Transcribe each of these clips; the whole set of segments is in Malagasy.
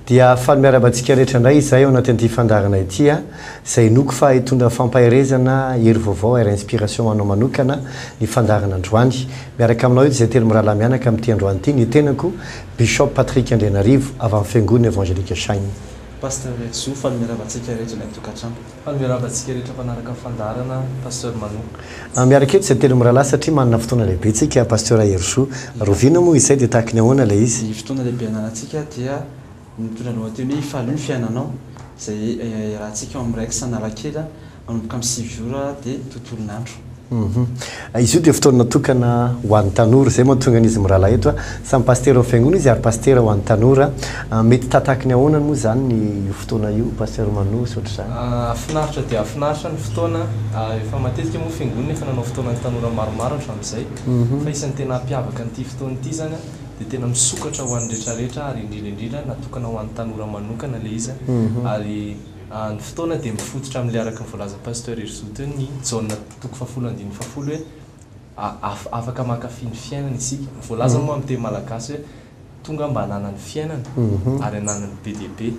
dia faly miaraba antsika rehetra indray izay ao anaty an'ity fandarana ity a izay noko fa hitondra fampaherezana hery vaovao ary inspiration anao manokana ny fandarana androany miaraka aminao eto izay telo mirahalahy mianaka amin'ity androany ity ny tenako Bishop Patrick Andrianarivo avy amin'ny fiangonana Evangelique Shine Pasteur Rhejo Zo, fa nomerava antsika rehetra ilay tokantrano. Fa nomerava antsika rehetra mpanaraka ny fandaharana Pasteur Manu. Ah miaraka eto izay telo mirahalahy satria manana fotoana lehibe tsika Pasteur Hery Zo. Rovina moa izay dia tahaky ny ahoana ilay izy? Ny fotoana lehibe ananantsika dia ny mitondra ny lohateny hoe Ifalio ny fiainanao izay iarahantsika ao amin'ny Rex Analakely. Manomboka amin'ny sivy ora dia tontolon'andro. Izy io dia fotoana natokana ho an'ny tanora. Izay mahatonga an'izy mirahalahy eto a. Samy pasitera amin'ny fiangonana izy ary pasitera ho an'ny tanora. Mety tahatahaky ny ahoana moa izany ny io fotoana io Pasteur Mano sy ohatr'izany? Hafinaritra dia hafinaritra ny fotoana. Efa matetika moa fiangonana efa nanao fotoanan'ny tanora maromaro hatramin'izay. Fa isan'ny tena hampiavaka an'ity fotoana ity izany a, dia tena misokatra ho an'ny rehetra rehetra ary indrindra indrindra natokana ho an'ny tanora manokana ilay izy a. Ary. Ny fotoana dia mifototra amin'ilay araka ny voalazan'i Pasteur Herizo teo ny Jaona toko fahafolo andininy fahafolo hoe af afaka mankafy ny fiainana isika. Voalaza moa amin'ny teny malagasy hoe tonga mba hanana ny fiainana ary hananany be dia be.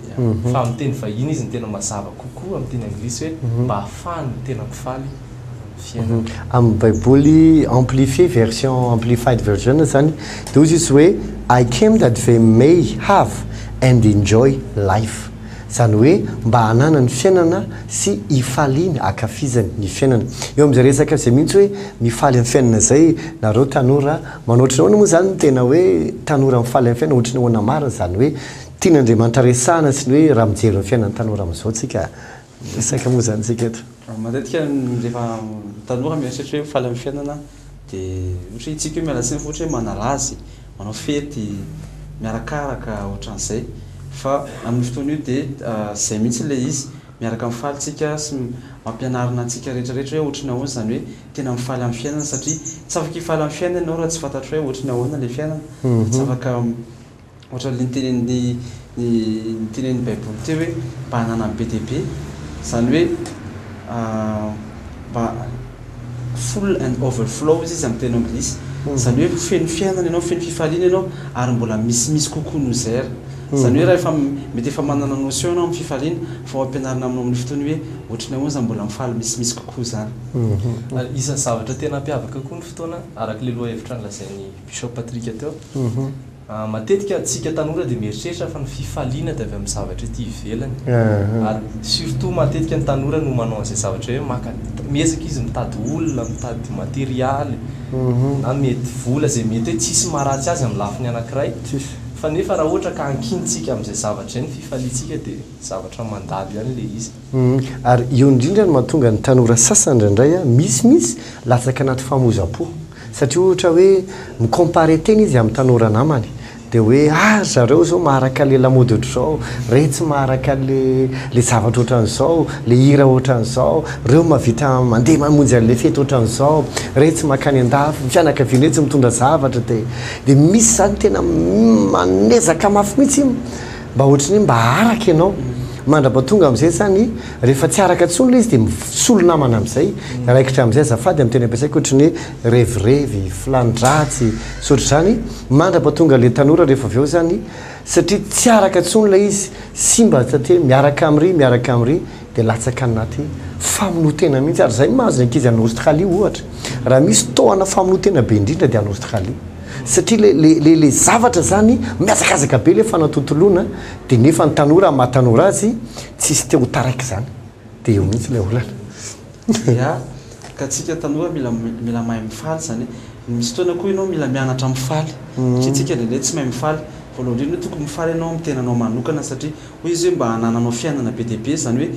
Fa amin'ny teny vahiny izy no tena mazava kokoa amin'ny teny anglisy hoe mba ahafahan'ny tena mpifaly ny fiainana. Amin'ny baiboly amplifié, version amplified version izany dia hoy Jesosy hoe I came that they may have and enjoy life. Izany hoe mba hananany fiainana sy hifaliany hakafizany ny fiainana. Eo amin'izay resaka izay mihitsy hoe mifaly amin'ny fiainana izay nareo tanora manao ohatry ny ahoana moa izany ny tena hoe tanora mifaly amin'ny fiainana ohatry ny ahoana marina izany hoe tian'Andriamanitra resahana sy ny hoe raha mijery ny fiainan'ny tanora amin'izao tsika resaka moa izany tsika eto. Matetika ny rehefa tanora mieritreritra hoe mifaly amin'ny fiainana. de ohatra hoe isika hoe miala tsiny fa ohatra hoe manala azy, manao fety, miarakaraka ohatran'izay fa amin'io fotoana io de zay mihitsy le izy miaraka mifaly tsika sy mampianarina antsika retraretra hoe ohatry ny ahoana zany hoe tena mifaly amin'ny fiainana satria tsy afaka hifaly amin'ny fiainana ianao raha tsy fantatrao hoe ohatry ny ahoana le fiainana, tsy afaka Ohatran'ilay nitenenin'ny nitenenin'ny Baiboly teo hoe mba hananany be dia be, izany hoe mba full and overflow izy amin'ny teny anglisy, izany hoe feno fiainana ianao, feno fifaliana ianao ary mbola misimisy kokoa noho izay ary. Izany hoe raha efa mety efa manana notion ianao amin'ny fifaliana fa ho ampianarina aminao amin'ny fotoana hoe ohatry ny ahoana izany mbola mifaly misimisy kokoa izany. Ary isan'ny zavatra tena hampiavaka koa ny fotoana, araka ilay lohahevitra nolazain'i Bishop Patrick teo. Matetika antsika tanora dia mieritreritra fa ny fifaliana dia avy amin'ny zavatra ety ivelany. Ary surtout matetika ny tanora no manao an'izay zavatra hoe maka, miezaka izy mitady olona, mitady materialy, na mety vola izay mety hoe tsisy maharatsy azy amin'ny lafiny anankiray. Fa nefa raha ohatra ka ankintsika amin'izay zavatra izay ny fifaliantsika dia zavatra mandalo ihany ilay izy. Ary eo indrindra no mahatonga ny tanora sasany indraindray misy mihitsy latsaka anaty famoizam-po. Satria ohatra hoe mi-comparer tena izy amin'ny tanora namany dia hoe ah ry zareo izao maharaka an'ilay lamaody ohatr'izao, ireny tsy maharaka an'ilay ilay zavatra ohatran'izao, ilay hira ohatran'izao, ireo mahavita mandeha mamonjy an'ilay fety ohatran'izao, ireny tsy mankany an-dafy, ny fianakaviana ireny tsy mitondra zavatra dia dia misy izany tena manezaka mafy mihitsy. mba ohatry ny hoe mba araka ianao mandrapa tonga amin'izay zany rehefa tsy araka intsony ilay izy dia misolo namana amin'izay raikitra amin'izay azafady amin'ny teny ampiasaiko ohatry ny hoe revirevy filani-dratsy sy ohatr'izany mandrapa tonga ilay tanora rehefa avy eo zany satria tsy araka intsony ilay izy simba satria miaraka amin'iry miaraka amin'iry dia latsaka anaty famonoan-tena mihitsy ary izay no mahazo ny ankizy any Australie ohatra raha misy tohana famonoan-tena be indrindra dia any Australie satria le le le le zavatra zany mihazakazaka be le fanatontoloana dia nefa ny tanora amin'ny maha tanora azy tsisy te ho taraiky zany dia eo mihitsy le olana ka tsika tanora mila mila mahay mifaly zany hoe misy fotoana koa ianao mila mianatra mifaly satria tsika ndraindray tsy mahay mifaly voalohany indrindra tokony mifaly ianao amin'ny tenanao manokana satria Hoy izy hoe, Mba hanananao fiainana be dia be, izany hoe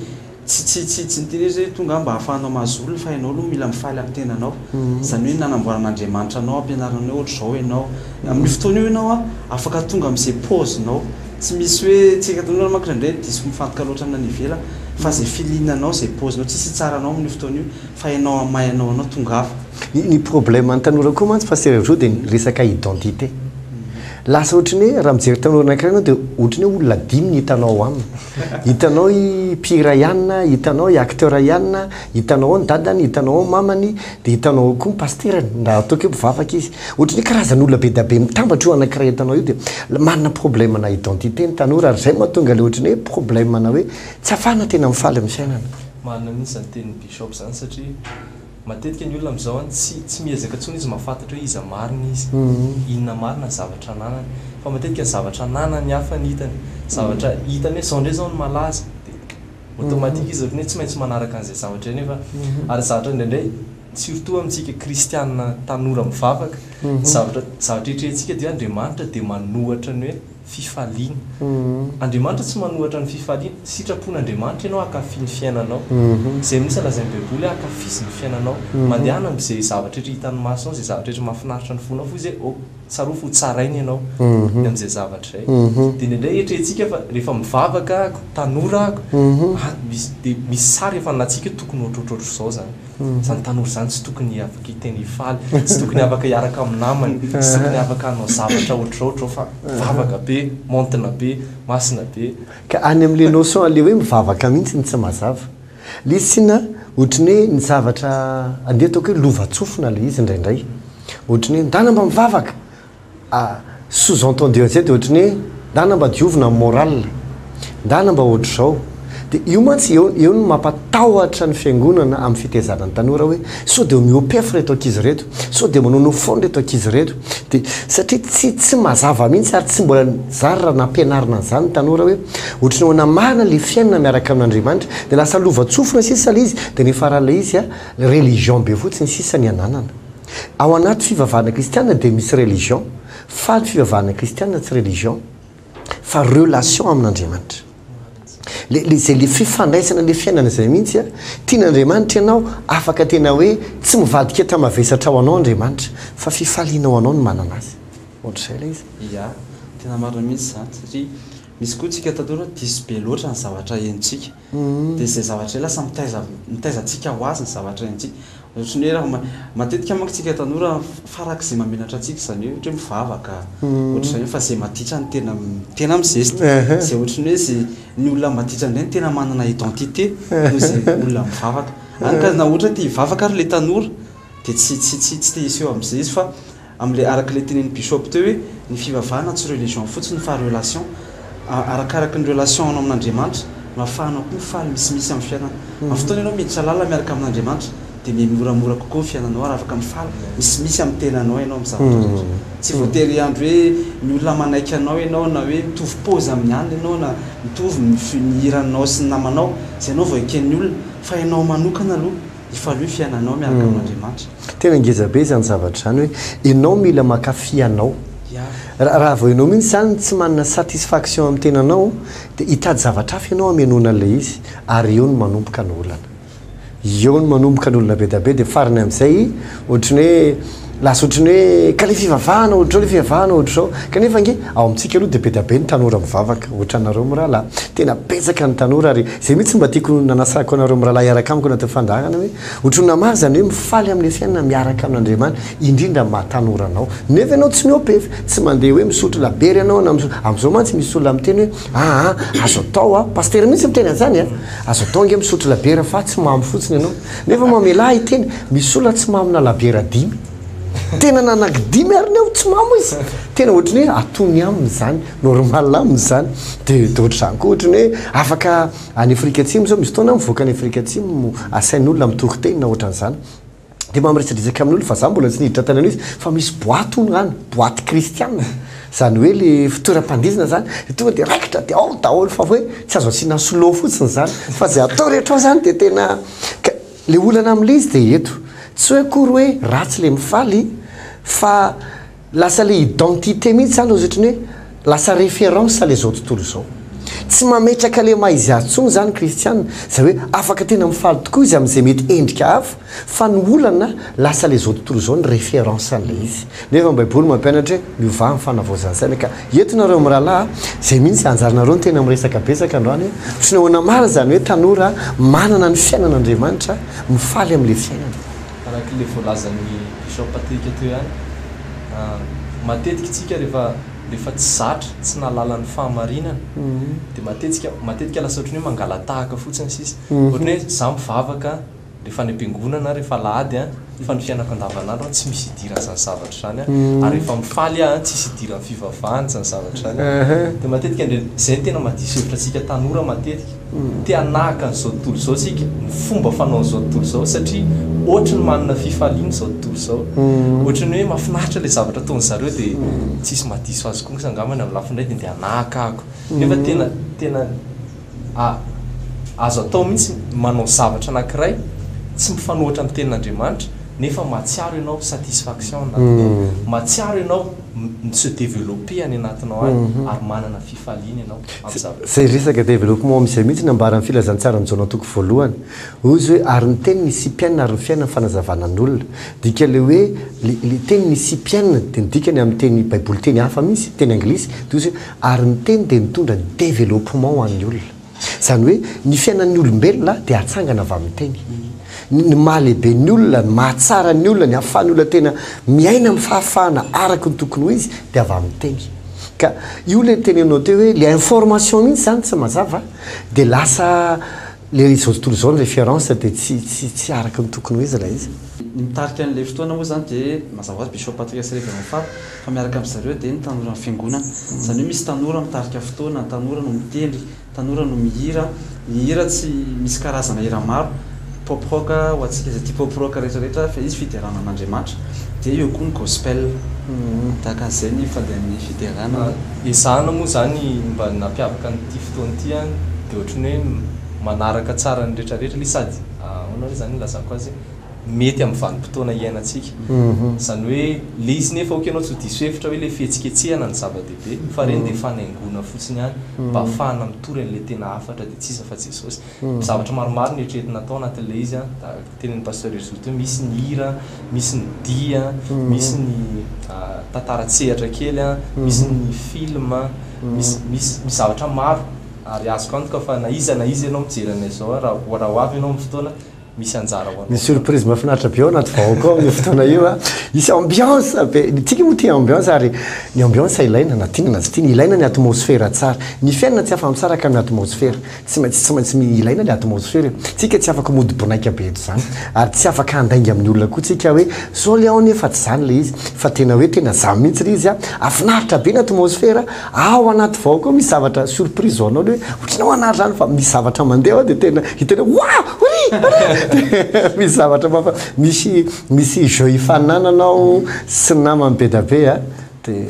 tsy tsy tsy tsy ny teny hoe izay tonga aho mba hahafahanao mahazo olona fa ianao aloha mila mifaly amin'ny tenanao. Izany hoe nanamboaran'Andriamanitra anao, ampianariny hoe ohatr'izao ianao. Amin'io fotoana io ianao afaka tonga amin'izay pause-nao. Tsy misy hoe, tsy haiko daholo angamba manko indraindray diso mifantoka loatra amin'ny any ivelany fa izay feeling-anao, izay pause-nao, tsisy hitsara anao amin'io fotoana io fa ianao amin'ny maha ianao anao, tongava. Ny problème ny tanora koa mantsy pasteur Hery Joe dia ny resaka identité. Lasa ohatry ny hoe raha mijery tanora anankiray ianao dia ohatry ny hoe olona dimy no hitanao ao aminy. Hitanao i mpihira Ianina, hitanao i acteur Ianina, hitanao ao ny dadany, hitanao ao ny mamany, dia hitanao ao koa ny pasterany na ataoko hoe mpivavaka izy. Ohatry ny hoe karazan'olona be dia be mitambatra io anankiray hitanao io dia manana problème ana identité ny tanora ary izay mahatonga ilay ohatry ny hoe problème ana hoe tsy afahana tena mifaly amin'ny fiainana. Marina mihintsy izany tenin'i Bishop izany satria Matetika ny olona amin'izao an, tsy tsy miezaka intsony izy mahafantatra hoe iza marina izy, inona marina ny zavatra ananany. Fa matetika ny zavatra ananan'ny hafa no hitany. Zavatra hitany hoe izao indray izao no malaza, dia automatique izy ohatran'ny hoe tsy maintsy manaraka an'izay zavatra izay. Nefa ary zavatra indraindray, surtout amintsika kristiana tanora mivavaka, ny zavatra, ny zavatra eritreretintsika dia hoe Andriamanitra dia manohatra ny hoe. fifaliana. Andriamanitra tsy manohatra ny fifaliana. Sitrapon'Andriamanitra ianao hankafy ny fiainanao. Izay mihitsy lazain'ny Baiboly hoe hankafy izy ny fiainanao. Mandehana amin'izay zavatra rehetra hitan'ny masonao, izay zavatra rehetra mahafinaritra ny fonao, foza hoe oh, tsarovy fa hotsaraina ianao ny amin'izay zavatra izay. Dia indraindray eritreretintsika fa rehefa mivavaka aho, tanora aho, dia misy sary efa nalatsika hoe tokony ho ohatrohatr'izao izany. Izany tanora izany tsy tokony hiavaka hiteny hifaly, tsy tokony afaka hiaraka amin'ny namany, tsy tokony afaka hanao zavatra ohatr'izao ohatr'izao fa vavaka be, maontina be, masina be. Ka any amin'ilay notion an'ilay hoe mivavaka mihitsy ny tsy mazava. Ilay izy tsinona ohatry ny hoe ny zavatra andeha ataoko hoe lovantsofina ilay izy indraindray. Ohatry ny hoe ndana mba mivavaka! Sous entendu an'izay dia ohatran'ny hoe ndana mba diovina ny moral, ndana mba ohatr'izao. Dia io mantsy, eo eo no mampatahotra ny fiangonana amin'ny fitezana ny tanora hoe sao dia miopef ireto ankizy ireto, sao dia manao no fun ireto ankizy ireto. Dia satria tsy tsy mazava mihitsy ary tsy mbola zary raha nampianarina an'izany ny tanora hoe ohatran'ny hoe namahana ilay fiainana miaraka amin'Andriamanitra dia lasa lovantsofina sisa ilay izy dia ny faran'ilay izy a religion be fotsiny sisa ny ananana. Ao anaty fivavahana kristiana dia misy religion, fa ny fivavahana kristiana tsy religion, fa relation amin'Andriamanitra. Le, le zay, le fifandraisana, le fiainana izay mihitsy an, tian'Andriamanitra ianao, afaka tena hoe tsy mivadika enta mavesatra ho anao Andriamanitra, fa fifaliana ho anao ny manana Azy. Ohatr'izay ilay izy. Ia, tena marina mihitsy izany, satria misy koa tsika tanora diso be loatra ny zavatra henontsika. Dia izay zavatra izay lasa mitaiza mitaiza antsika ho azy ny zavatra iaintsika. Ohatry ny hoe raha ma matetika manko isika tanora farak'izay mamenatra antsika izany hoe ohatra hoe mivavaka ohatra izany fa izay maditra no tena tena mi-zesta. Izay ohatry ny hoe izay ny olona maditra indray no tena manana identité noho izay olona mivavaka. Hany ka na ohatra hoe te hivavaka ary ilay tanora dia tsy tsy tsy tsy te hiseho amin'i Zezy fa Amin'ilay araka ilay tenenin'i Bishop teo hoe ny fivavahana tsy religion fotsiny fa relation, arakaraky ny relation anao amin'Andriamanitra no afahanao koa mifaly misimisy amin'ny fiainana. Amin'ny fotoana ianao miditra lalina miaraka amin'Andriamanitra dia miha moramora kokoa ny fiainanao ary afaka mifaly misimisy amin'ny tenanao ianao amin'ny zavatra rehetra. Tsy voatery hiandry hoe ny olona manaiky anao ianao na hoe mitovy pôzy amin'ny alina ianao na mitovy ny hiranao sy ny namanao izay ianao vao eken'ny olona fa ianao manokana aloha Hifalio ny fiainanao miaraka amin'Andriamanitra. Tena ngeza be izany zavatra izany hoe enao mila makafy anao. Raha vao enao mihitsy izany tsy manana satisfaction amin'ny tenanao dia hitady zavatra hafa enao hamenoana an'ilay izy ary eo no manomboka ny olana. Eo no manomboka ny olona be dia be dia farany amin'izay ohatran'ny hoe Lasa ohatran'ny hoe ka le fivavahana ohatr'izao le fivavahana ohatr'izao kanefa ange ao amintsika aloha dia be dia be ny tanora mivavaka ohatranareo mirahalahy tena betsaka ny tanora ary izay mihitsy mba tiako nanasako anareo mirahalahy hiaraka amiko anatin'ny fandaharana hoe ohatran'ny naha maro izany hoe mifaly amin'ny fiainana miaraka amin'Andriamanitra indrindra ny maha tanora anao nefa ianao tsy miopef tsy mandeha hoe misotro labiera ianao na misotro amin'izao mantsy misy olona miteny hoe aa azo atao a pasitera mihitsy miteny an'izany a azo atao ange misotro labiera fa tsy mamo fotsiny ianao Nefa mamelà ahy teny, misola tsy mamina labiera dimy. Tena nanaky dimy ary ny aho tsy mamo izy. Tena ohatry ny hoe atony aminy izany, normal aminy izany. Dia dia ohatr'izany koa, ohatry ny hoe afaka any Afrika Atsimo izao, misy fotoana aho mivoaka any Afrika Atsimo, asain'olona mitory teny na ohatry an'izany. Dia mampiresadresaka amin'olona fa izaho mbola tsy niditra tany amin'io izy, fa misy boaty hono any, boaty kristiana. Zany hoe le fitoeram-pandihizana zany de tonga de raikitra de ao daholo fa hoe tsy azo asiana slow fotsiny zany fa ze atao rehetra ao zany de tena ka le olana amle izy de eto tsy hoe akory hoe ratsy le mifaly fa lasa le identité mihitsy zany ozy otrany hoe lasa référence le zao tontolo zao tsy mametraka le maha izy azy tsony zany kristiana zay hoe afaka tena mifaly tokoa izy amze mety endrika hafa Fa ny olana lasa le zao tontolo zao ny reference an'ilay izy. Nefa ny baiboly mampianatra hoe miovà ny fanavaozan'saina ka. Eto nareo mirahalahy a, zay mihintsy anjaranareo ny tena miresaka betsaka androany e. Tsy nahoana marina izany hoe tanora manana ny fiainana Andriamanitra, mifaly amin'ilay fiainana. Arak'ilay voalazan'i Bishop Patrick teo ihany, matetika isika rehefa rehefa tsy zatra, tsy nahalala ny fahamarinana dia matetsika matetika lasa ohatran'ny hoe mangalatahaka fotsiny sisa. Ohatran'ny hoe za mivavaka, rehefa any am-piangonana aho, rehefa alahady an, fa ny fiainako andavanandro an, tsy misy idiran' izany zavatra izany an, ary rehefa mifaly aho an, tsisy idiran' ny fivavahana izany zavatra izany an, dia matetika indray, izay no tena mahadiso hevitra antsika tanora matetika, te hanahaka an'izao tontolo izao isika, ny fomba fanaon'izao tontolo izao, satria ohatry ny manana fifaliana izao tontolo izao, ohatry ny hoe mahafinaritra ilay zavatra ataon'ny zareo dia tsisy mahadiso azy kosa angambany amin'ny lafiny iray dia ndeha hanahaka ahako, nefa tena, tena. A. Azo atao mihitsy ny manao zavatra anankiray tsy mifanohatra amin'ny tenin'Andriamanitra nefa mahatsiaro ianao satisfaction any anatiny ao, mahatsiaro ianao mi-se developper any anatinao any ary manana fifaliana ianao amin'ny zavatra. Izay resaka développement amin'izay mihitsy no ambaran'ny Filazantsaran'i Jaona toko voalohany. Hoy izy hoe, ary ny Teny nisipiana ary ny fiainana ny fanazavana ny olona. Dika ilay hoe, ilay teny nisipiana dia ny dikany amin'ny teny baiboly teny hafa mihitsy, teny anglisy, dia hoy izy hoe, Ary ny teny dia mitondra ny développement ho an'ny olona. Izany hoe ny fiainan'ny olombelona dia atsangana avy amin'ny teny. Ny ny maha lehibe ny olona, ny maha tsara ny olona, ny ahafahan'ny olona tena miaina amin'ny fahafahana araka ny tokony ho izy dia avy amin'ny teny. Ka io ilay notenenanao teo hoe ilay information mihitsy izany tsy mazava dia lasa Ilay izy izao tontolo izao ny référence dia tsy tsy tsy araka ny tokony ho izy ilay izy. Ny mitarika an'ilay fotoana moa izany dia mazava ho azy Bishop Patriarche sy Révérend Fab fa miaraka amin-dry zareo dia ny tanoran'ny fiangonana. Izany hoe misy tanora mitarika fotoana, tanora no mitendry, tanora no mihira. Ny hira tsy misy karazana hira maro, pop rock ho antsika izay tia pop rock rehetra rehetra fa izy fiderana an'Andriamanitra. Dia eo koa ny gospel. Tahaka an'izay ny fandehan'ny fiderana. Ezahana moa izany mba ny nampiavaka an'ity. fotoana ity an, dia ohatran'ny hoe manaraka tsara ny retraretra le sady ahoana re zany ilazako azy mety amin'ny vanim-potoana iainantsika, izany hoe le izy nefa ok ianao tsy ho diso hevitra hoe le fihetsiketsehana no zava-dehibe fa ireny dia fanaingoana fotsiny ihany mba hafahana mitory an'le tena hafatra dia tsy iza fa Jesosy, zavatra maromaro no eritreretina atao anatin'le izy an. Tenin'i Pasteur Hery Zoto hoe misy ny hira, misy ny dihy, misy ny tantara an-tsehatra kely, misy ny film, misy misy misy zavatra maro ary azoko antoka fa na iza na iza ianao mijery anay izao raha raha ho avy ianao amin'ny fotoana misy anjara ho anao. Misy surprise mahafinaritra be ao anaty vahoaka ao amin'io fotoana io a! Hisy ambiance be, ny antsika moa tia ambiance ary ny ambiance ilaina na tiana na tsy tiana, ilaina ny atmosfera tsara. Ny fiainana tsy afa-misaraka amin'ny atmosfera. Tsy maintsy tsy maintsy mi ilaina le atmosfera e! Tsika tsy afaka mody bonaika be eto zany ary tsy afaka handainga amin'ny olona koa tsika hoe zao le ao nefa tsy zany le izy fa tena hoe tena zany mihitsy le izy a! Afinaritra be ny atmosfera ao anaty vao koa misy zavatra surprise ho anao le hoe otrany ao anary zany fa misy zavatra mandeha ao de tena hitanao hoe wa! Ory! Ory! Misy zavatra mafa misy misy jeux hifaninananao sy namany be da be a! Dia.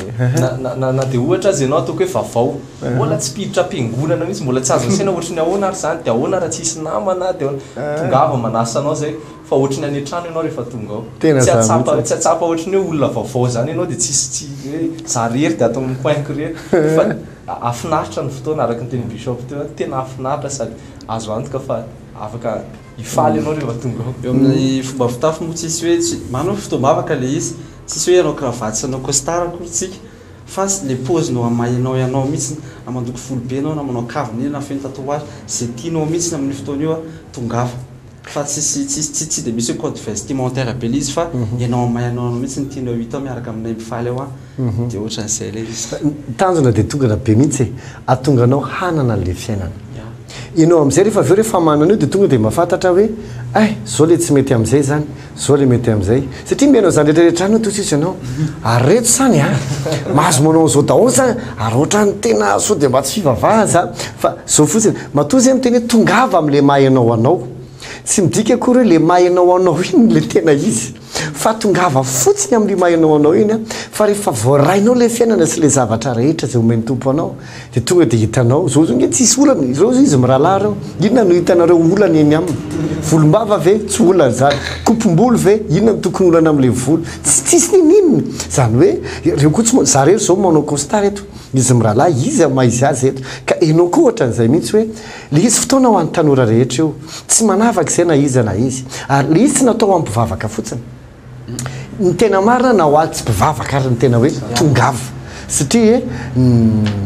Na dia ohatra aza ianao ataoko hoe vavao, mbola tsy mpiditra am-piangonana mihitsy, mbola tsy azo asaina ohatry ny ahoana ary izany, dia ahoana raha tsy hisy namana, dia ahoana. Tongava manasa anao izay, fa ohatry ny any an-trano ianao rehefa tonga ao. Tena izany mihitsy. Tsy hahatsapa, tsy hahatsapa ohatry ny hoe olona vaovao izany ianao dia tsisy, tsy hoe izaho irery dia ato amin'ny coin-ko irery. Fa hahafinaritra ny fotoana, araka ny tenin'i Bishop teo, tena hahafinaritra sady azo antoka fa afaka hifaly ianao rehefa tonga ao. Eo amin'ny fomba fitafy moa tsisy hoe tsy, manana fotoam-bavaka ilay izy. Tsisy hoe ianao cravate sy anao costard akory tsika fa tsy le pose no amainao ianao mitsiny na mandoko volo be ianao na manao kavina iny na feno tatouage ze tianao mitsiny amin'io fotoana io tongava fa tsisy tsisy tsy de misy hoe code vestimentaire be le izy fa ianao amainao anao mitsy ny tianao hita ao miaraka aminay mifaly ao an de otran'izay le izy. Ny tanjona de tongana be mitsy e atonga anao hanana anle fiainana ianao amizay refa aveo refa manana io de tonga de mafantatra hoe ay zao le tsy mety amizay zany Zao le mety amzay. Satria mihaino an'izany rehetra rehetra izany hono sisa ianao. Ary reto izany a, mahazo manao an'izao daholo izany ary ohatran'ny tena sao dia mba tsy fivavahana izany fa zao fotsiny. Matoa zay miteny hoe tongava amle maha ianao anao. Tsy midika akory hoe le maha ianao anao iny no le tena izy. Fa tongava fotsiny amin'io maha ianao anao iny fa rehefa voarainao le fiainana sy le zavatra rehetra izay omen'ny Tompo anao Dia tonga dia hitanao, zao zao nge tsisy olana, zao zao izy mirahalahy reo, inona no hitanareo olana eny aminy? Volombava ve? Tsy olana zany. Kopom-bolo ve? Inona no tokony olana amle volo? Tsy tsisy niniana. Zany hoe, reo koa tsy manao, za rery zao manao costard eto, izy mirahalahy, iza maha izy azy eto? Ka enao koa ohatran'zay mihitsy hoe, le izy fotoana ho an'ny tanora rehetra io, tsy manavaka izay na iza na iza, ary le izy tsy natao hampivavaka fotsiny, Ny tena marina na hoazy tsy mpivavaka ary ny tena hoe tongava satria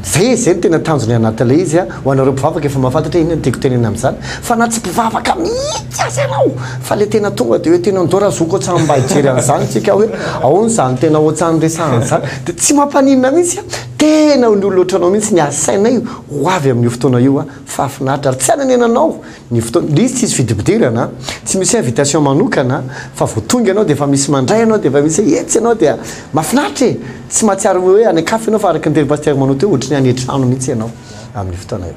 zay zay no tena tanjony anatin'ilay izy an, ho anareo mpivavaka efa mahafantatra hoe inona no tiako tenenina amin'izany fa na tsy mpivavaka mihitsy aza ianao fa le tena tonga de hoe tena ndao ra zoky otsan mba hijery an'izany tsika hoe aona zany tena otsan resahana an'izany de tsy mampaninona mihitsy an, tena ny olona otranao mihitsy ny asainay ho avy amin'io fotoana io an, fahafinaritra ary tsy hanenenanao. Ny fotoana, le izy tsisy fidipidirana, tsy misy hoe invitation manokana fa vao tonga ianao dia efa misy mandray anao dia efa misy hoe etsy ianao dia mafinaritra e! tsy mahatsiaro hoe any an-kafa ianao fa araka ny tenin'i Pasitera Manao teo ohatry ny any an-trano mihitsy ianao amin'io fotoana io.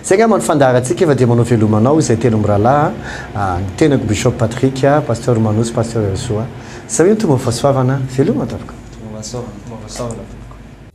Zay angamba no fandaharantsika fa dia manao veloma anao izay telo mirahalahy a, ny tenako Bishop Patrick, Pasteur Manao sy Pasteur Herisoa. Zay hoy ny Tompo Mafasoavana, veloma tompoko. Tompo Mafasoavana, Tompo Mafasoavana tompoko.